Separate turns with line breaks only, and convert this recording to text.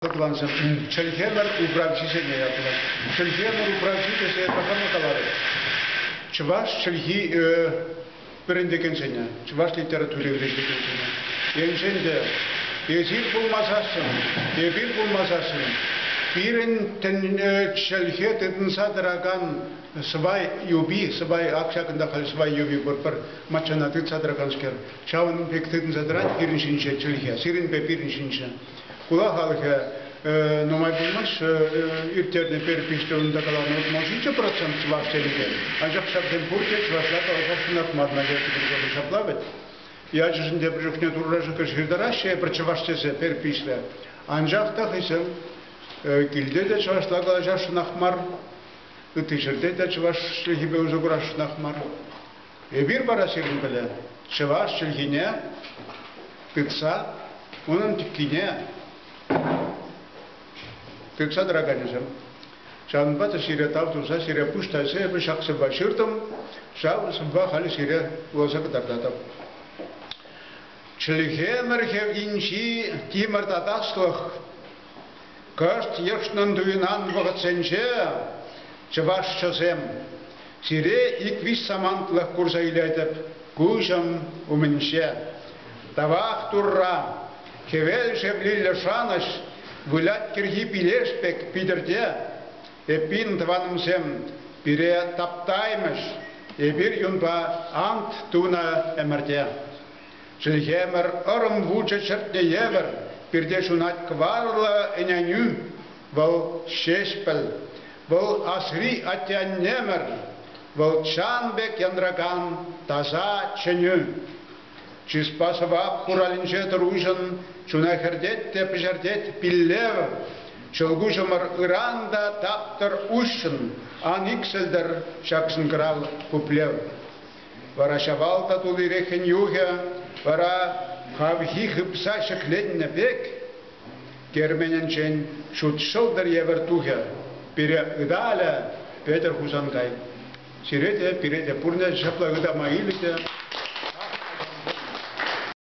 Тӑванҫӗсем, чӗлхемӗр управҫи ҫине ятлӑ. Чӗлхемӗр управҫи тесе тӑхӑрнӑ каларӗ. Чӑваш чӗлхи вӗрентекенсене, чӑваш литератури вӗрентекенсене, енчен те эсир пулмасассӑн, эпир пулмасассӑн, пирӗн чӗлхе тытӑнса тӑракан сӑвай юпи, сӑвай ак ҫакӑнта халь сӑвай юпи пур, пӗр маччана тытса тӑраканскер, ҫавӑн пек тытӑнса тӑрать пирӗн ҫинче чӗлхе, сирӗнпе пирӗн ҫинче. хула халӑхӗ нумай пулмасть ирттернӗ перепиҫ тылында каланӑ утмӑл ҫичӗ процент чӑваш тенӗ анчах ҫаксем пурте чӑвашла каласа ҫунатман надежда григорьевна ҫапла вӗт ячӗшӗн те пӗр чухне турра шükür ҫыртараҫҫӗ эпир чӑваш тесе перпиҫлӗ анчах та хӑйсем килте те чӑвашла калаҫасшӑнах мар ытти ҫӗрте те чӑваш чӗлхипе усӑ курасшӑнах мар Эпир вара сирӗн пӗлӗ чӑваш чӗлхине тытса унӑн тӗккине тытса тӑраканӗсем. Ҫавӑнпа та сире тав туса сире пуҫ тайса эпӗ ҫак сӑвва ҫыртӑм, ҫав сӑвва халӗ сире вуласа кӑтартатӑп. Чӗлхемӗрхӗ инҫи тимӗр татаслӑх Кӑшт йӑшнӑн туйӑнан вӑхӑтсенче чӑвашҫӑсем, сире ик-виҫ самантлӑх курса илетӗп куҫӑм умӗнче. Тавах Турра, хӗвел шевлиллӗ шанӑҫ вылять кӗрхи пилеш пек питӗрте. Эппин, тӑванӑмсем, пире таптаймӗҫ эпир юнпа ант тунӑ ӗмӗрте. Чӗлхемӗр ӑрӑм вучӗ чӗртнӗ евӗр пирте ҫунать кӑварлӑ ӗненӳ. Вӑл Ҫеҫпӗл. Вӑл асри атте-аннемӗр. Вӑл чан пек янракан таса чӗнӳ. Чыспа сӑвап хуралӗнче тӑруҫӑн чуна хӗртет те пӗҫертет пиллев. Ҫӑлкуҫӑмӑр ыран та таптӑр уҫҫӑн, ан иксӗлтӗр ҫак шӑнкӑрав пуплев. Вара Ҫавал татулири хӗн-юхӗ вара хавхи хыпса ҫӗкленнӗ пек керменӗнчен ҫут ҫӑлтӑр евӗр тухӗ. Пире ыталӗ Петӗр Хусанкай. Сире те, пире те пурне ҫапла ытама илӗ те.